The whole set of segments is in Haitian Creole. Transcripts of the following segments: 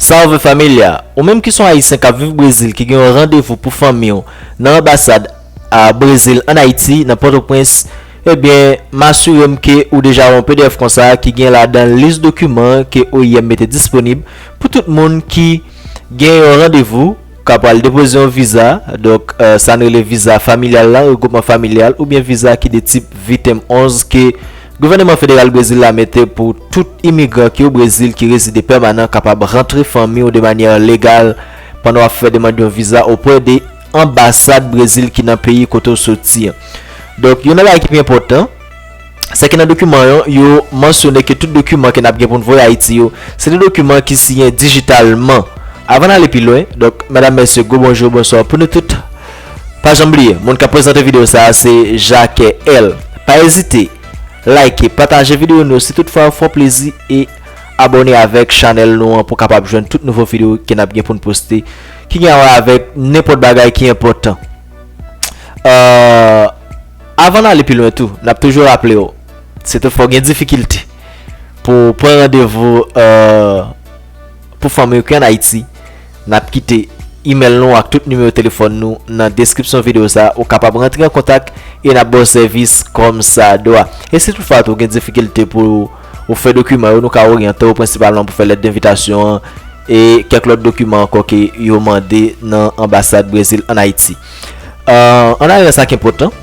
Salve Familia! Ou menm ki son Ayisyen kap viv Brezil ki gen yon randevou pou fanmi w nan anbasad a Brezil an Ayiti nan Pòtoprens ebyen m asire m ke ou deja wè yon pdf konsa ki gen ladan l lis dokiman ke oim mete disponib pou tout moun ki gen yon randevou Ka pral depoze yon viza, donk sa n rele viza familyal la, regwoupman familyal, oubyen viza ki de tip Vitem 11 ke gouvèneman federal Brezil la mete pou tout imigran ki o Brezil ki rezide pèmanan kapab rantre fanmi w de manyè legal pandan w ap fè demand yon viza opwè de anbasad Brezil ki nan peyi kote w soti an. Donk, yon nan bagay ki pi enpòtan. Sa ki nan dokiman yo, yo mansyone ke tout dokiman ke n ap gen pou n voye Ayiti yo, se de dokiman ki siyen dijitalman. Avan n ale pi lwen, donk, medam, mesye, gwo bonjou, bonswa pou nou tout. Pa janm bliye, moun k ap prezante videyo sa a se Jacques L. Pa ezite like, pataje videyo nou si tout fwa yo fè w plezi e abone avèk chanèl nou an pou w kapab jwenn tout nouvo videyo ke n ap gen pou n poste ki gen a wè avèk nenpòt bagay ki enpòtan. Avan n ale pi lwen tou, n ap toujou raple w, si tou fwa w gen difikilte pou w pran randevou pou fanm yo ki an Ayiti, n ap kite imèl nou ak tout nimewo telefòn nou nan deskripsyon videyo sa a. Ou kapab rantre an kontak e n ap ba w sèvis kòmsadwa. E si tout fwa tou w gen difikilte pou w fè dokiman yo, nou ka oryante w prensipalman pou fè lèt denvitasyon an e kèk lòt dokiman ankò ke yo mande nan anbasad Brezil an Ayiti. Euh, an ayerè sa k enpòtan.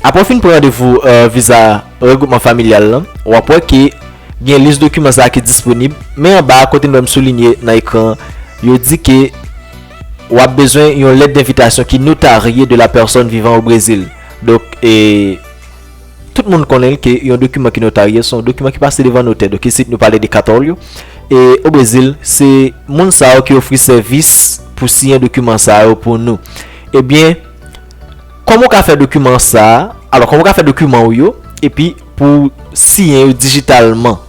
Apre w fin pran randevou euh, viza regwoupman familyal lan, w ap wè ke gen lis dokiman sa a ki disponib, men anba a, kote nou wè m soulinye nan ekran an, yo di ke w ap bezwen yon lèt denvitasyon ki notarye de la pèsòn vivan o Brezil. Donk, e. Tout moun konnen l ke yon dokiman ki notarye se yon dokiman ki pase devan notè. Donk isit nou pale de katòlyo. E o Brezil, se moun sa yo ki ofri sèvis pou siyen dokiman sa yo pou nou. Ebyen, kòman ou ka fè dokiman sa a? Alò, kòman ou ka fè dokiman ou yo epi pou ou siyen yo dijitalman?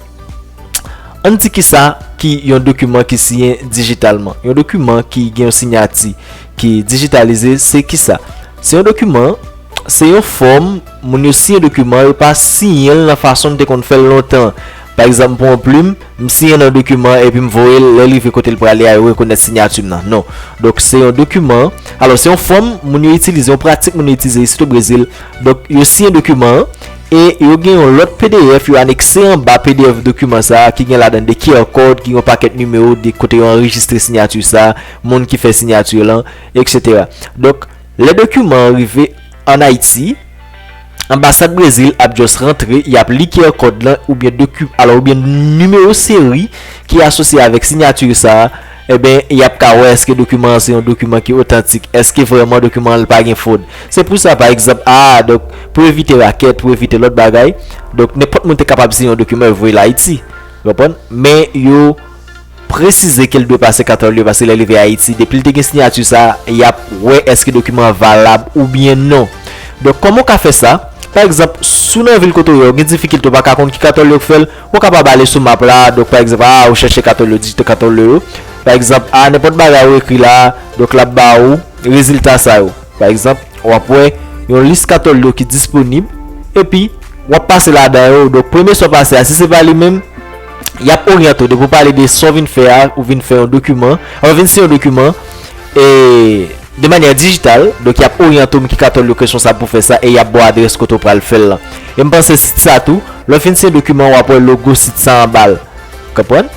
An n di kisa ki yon dokiman ki siyen dijitalman. Yon dokiman ki gen yon sinyati. ki dijitalize se kisa? Se yon dokiman, se yon fòm, moun yo siyen dokiman, yo pa siyen l nan fason n te konn fè l lontan. Pa egzanp, m pran yon plim, m siyen nan dokiman epi m voye l, lè l rive kote l prale a yo rekonèt sinyati m nan. Non. Donk, se yon dokiman, alò se yon fòm moun yo itilize, yon pratik moun yo itilize isit o Brezil. Donk, yo siyen dokiman an e yo gen yon lòt pdf yo anekse anba pdf dokiman sa a ki gen ladan de QR code ki gen yon pakèt nimewo de kote yo anrejistre sinyati sa a. moun ki fè sinyati lan, eksetera. Donk, lè dokiman an rive ann Ayiti, anbasad Brezil ap just rantre, y ap li QR kòd lan oubyen doki, alò oubyen nimewo seri ki asosye avèk sinyati sa a, enben, y ap ka wè èske dokiman an se yon dokiman ki otantik, èske vrèman dokiman an l pa gen fwod. Se pou sa, pa egzanp, a, donk, pou evite rakèt, pou evite lòt bagay, donk, nenpòt moun te kapab siyen yon dokiman yo voye l Ayiti, ou konprann, men yo. presize ke l dwe pase 4 òl yo pase lè rive Ayiti depi l te gen siyati sa y ap wè èske dokiman an valab oubyen non donk kòman w ka fè sa pa egzanp si w nan vil kote w ye w gen difikilte w pa ka konn ki 4 òl yo k fè l w kapab ale sou map la donk pa egzanp a ou chèche 4 òl yo dijite 4 òl yo pa egzanp a nenpòt bagay ou ekri la donk l ap ba ou rezilta sa yo pa egzanp w ap wè yon lis 4 òl yo ki disponib epi w ap pase ladan yo donk premye sa w pase a si se pa li menm. yap oryante w depi w pale de sa w vin fè a ou vin fè yon dokiman ou vin siyen yon dokiman e de manyè dijital donk yap oryante w ki katòl yo kesyon sa pou fè sa e yap ba w adrès kote w pral fè l lan e m panse sit sa tou lè w fin siyen dokiman wap wè logo sit sa anba l konprann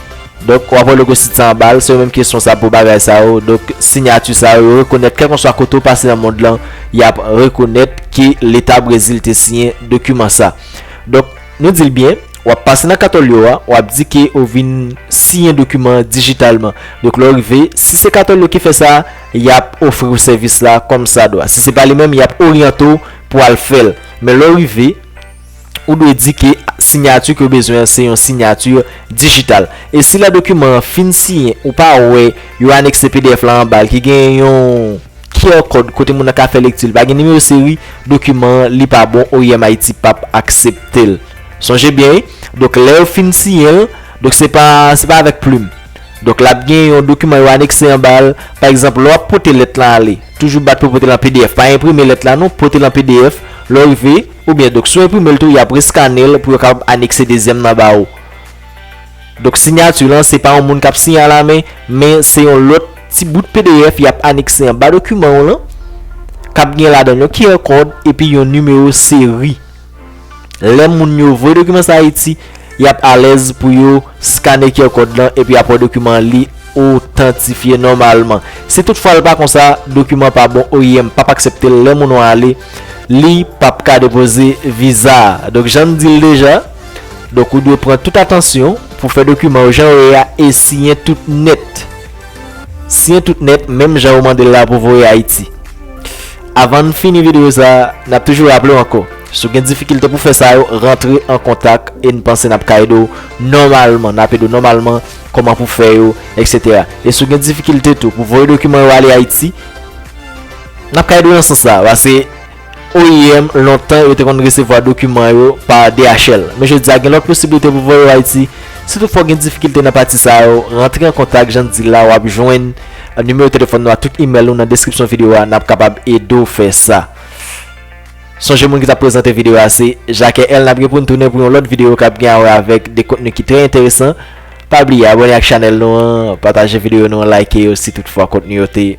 donk wap wè logo sit sa anba l se yo menm ki responsab pou bagay sa yo donk sinyati sa yo yo rekonèt kèlkanswa kote w pase nan mond lan yap rekonèt ke leta brezil te siyen dokiman sa donk Nou di l byen, w ap pase nan katòl yo a, w ap di ke ou vin siyen dokiman an dijitalman. Donk lè w rive, si se katòl yo ki fè sa, y ap ofri w sèvis la kòmsadwa. Si se pa li menm, y ap oryante w pou al fè l. Men lè w rive, ou dwe di ke sinyati ke w bezwen an se yon sinyati dijital. E si lè dokiman an fin siyen, ou pa wè yo anekse pdf la anba l ki gen yon. QR kòd kote moun nan ka fè lekti l pa gen nimewo seri dokiman an li pa bon oim ayiti pap aksepte l sonje byen wi donk lè yo fin siyen l donk se pa se pa avèk plim donk lap gen yon dokiman yo anekse anba l pa egzanp lè wap pote lèt lan ale toujou bat pou pote l an pdf pa enprime lèt la non pote l an pdf lè w rive oubyen donk si w enprime l tou yap reskane l pou yo kapab anekse dezyèm nan ba ou. Donk sinyati lan se pa yon moun k ap siyen alamen, men se yon lòt ti bout pdf y ap anekse anba dokiman w lan, k ap gen ladan l yon QR kòd epi yon nimewo seri. Lè moun yo voye dokiman sa Ayiti, y ap alèz pou yo skane QR kòd lan epi apre dokiman an li otantifye nòmalman. Si tout fwa l pa konsa, dokiman an pa bon, oim p ap aksepte l, lè moun an ale, li p ap ka depoze viza a. Donk jan n di l deja. Donk ou dwe pran tout atansyon pou fè dokiman yo jan yo ye a e siyen tout nèt. Siyen tout nèt menm jan ou mande l la pou voye Ayiti. Avan n fini videyo sa, n ap toujou raple w ankò, si w gen difikilte pou fè sa yo, rantre an kontak e n panse n ap ka ede w nòmalman, n ap ede w nòmalman kòman pou fè yo, eksetera. E si w gen difikilte tou pou voye dokiman yo ale Ayiti, n ap ka ede w nan sans sa a. Pase. OIM lontan yo te konn resevwa dokiman yo pa DHL, men jodi a gen lòt posiblite pou voye yo Ayiti. Si toutfwa w gen difikilte nan pati sa yo, rantre an kontak jan n di l la, w ap jwenn nimewo telefòn nou ak tout imèl nou nan deskripsyon videyo a, n ap kapab ede w fè sa. Sonje moun ki t ap prezante videyo a se Jacques L. N ap gen pou n tounen pou yon lòt videyo k ap gen awè avèk de kontni ki trè enteresan. Pa bliye abòne ak chanèl nou an, pataje videyo nou an, like yo si toutfwa kontni yo te.